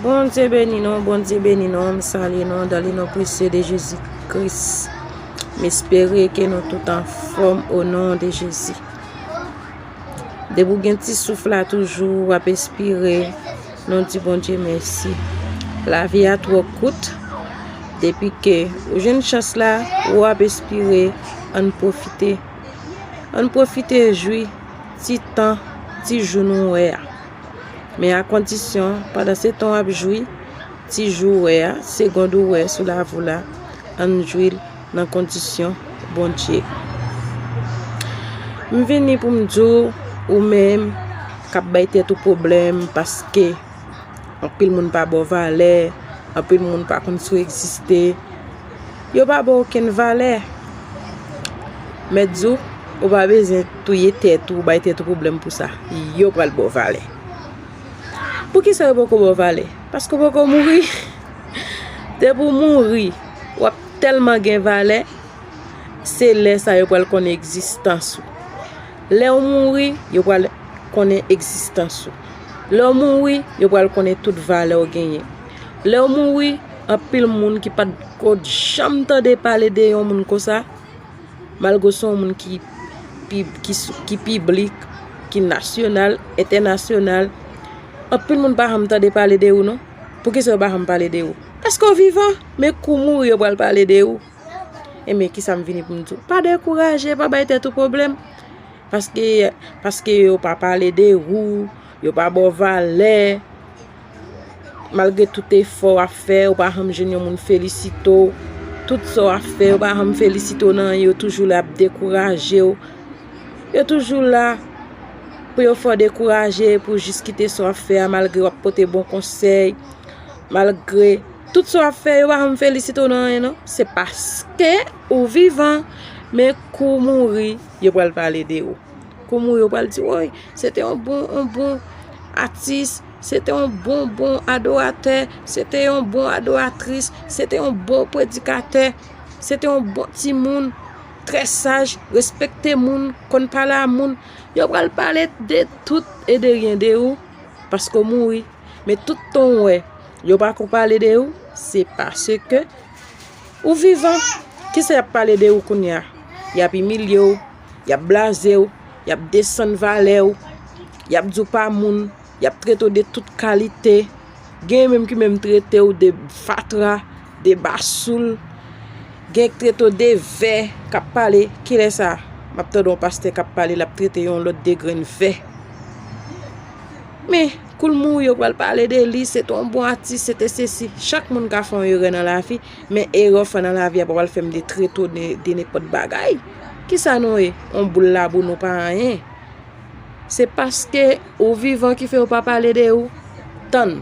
Bondye beni nou Bondye beni nou m salye nou dan le non presye de jezi kris m espere ke nou tout anfom o non de jezi depi w gen ti souf la toujou w ap espire nou di Bondye mèsi lavi a tro kout depi ke ou jwenn chans la ou ap espire ann profite ann profite jwi ti tan ti jou nou wè a. Men a kondisyon, pandan se tan w ap jwi ti jou w wè a, segond ou wè sou lavi la, ann jwi l nan kondisyon Bondye. M vini pou m di w, ou menm k ap bay tèt ou pwoblèm paske anpil moun pa ba w valè, anpil moun pa konn si w egziste, Yo pa baw okenn valè. Mèt di w, ou pa bezwen touye tèt ou, bay tèt ou pwoblèm pou sa. Yo pral baw valè. Poukisa yo poko baw valè? Paske ou poko mouri. Depi ou mouri, w ap tèlman gen valè, se lè sa yo pral konnen egzistans ou. Lè ou mouri, yo pral konnen egzistans ou. Lè ou mouri, yo pral konnen tout valè ou genyen. Lèw mouri, anpil moun ki pat ko janm tande pale de yon moun konsa, malgre se yon moun ki piblik, ki nasyonal, entènasyonal, anpil moun pa janm tande pale de ou non. Poukisa yo pa janm pale de ou? Paske ou vivan, men kou ou mouri yo pral pale de ou. Enben, kisa m vini pou m di ou? Pa dekouraje, pa bay tèt ou pwoblèm. Paske yo pa pale de ou, yo pa baw valè. Malgre tout efò w ap fè, ou pa janm jwenn yon moun felisite w. Tout sa w ap fè, yo pa janm felisite w nan anyen. Yo toujou la ap dekouraje w. Yo toujou la pou yo fè w dekouraje, pou yo jis kite sa w ap fè a malgre w ap pote bon konsèy. Malgre tout sa w ap fè, yo pa janm felisite w nan anyen non. Se paske ou vivan. Men kou ou mouri, yo pral pale de ou. Kou ou mouri, yo pral di, woy, se te yon bon, yon bon atis. Se te yon bon bon adoratè, se te yon bon adoratris, se te yon bon predikatè, se te yon bon ti moun, trè saj, respekte moun, konn pale a moun. Yo pral pale de tout e de ryen de ou, paske ou mouri. Men tout tan ou wè, yo pa ko pale de ou, se paske ou vivan. Kisa y ap pale de ou kounye a? Y ap imilye ou. y ap blaze w, y ap desann valè w, y ap di w pa moun, y ap trete w de tout kalite, gen menm ki menm trete w de fatra, de basoul, gen k trete w de vè, k ap pale, kilè sa m ap tande yon pastè k ap pale l ap trete yon lòt de grenn vè? Men, kou l mouri yo pral pale de li, se te yon bon atis, se te sesi, chak moun ka fè yon erè nan lavi. Men erè w fè nan lavi a pa pral fè m de treto de nenpòt bagay. Ki sa nou ye? On boul labou nou pa anyen. Se paske ou vivan ki fè yo pa pale de ou. Tann.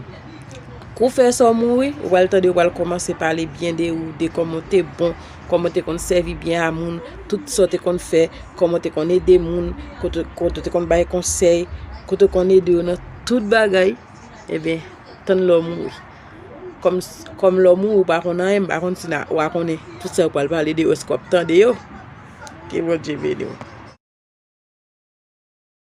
Kou w fè sa w mouri, ou pral tande yo pral kòmanse pale byen de ou, de kòman w te bon, kòman w te konn sèvi byen a moun, tout sa w te konn fè, kòman w te konn ede moun, kote w te konn bay konsèy, kote w konn ede yo nan tout bagay. Eben, tann lè w mouri. Kòm lè w mouri ou pa konn anyen, m pa konn si w a konnen tout sa yo pral pale de ou èske w ap tande yo? Ke Bondye beni w.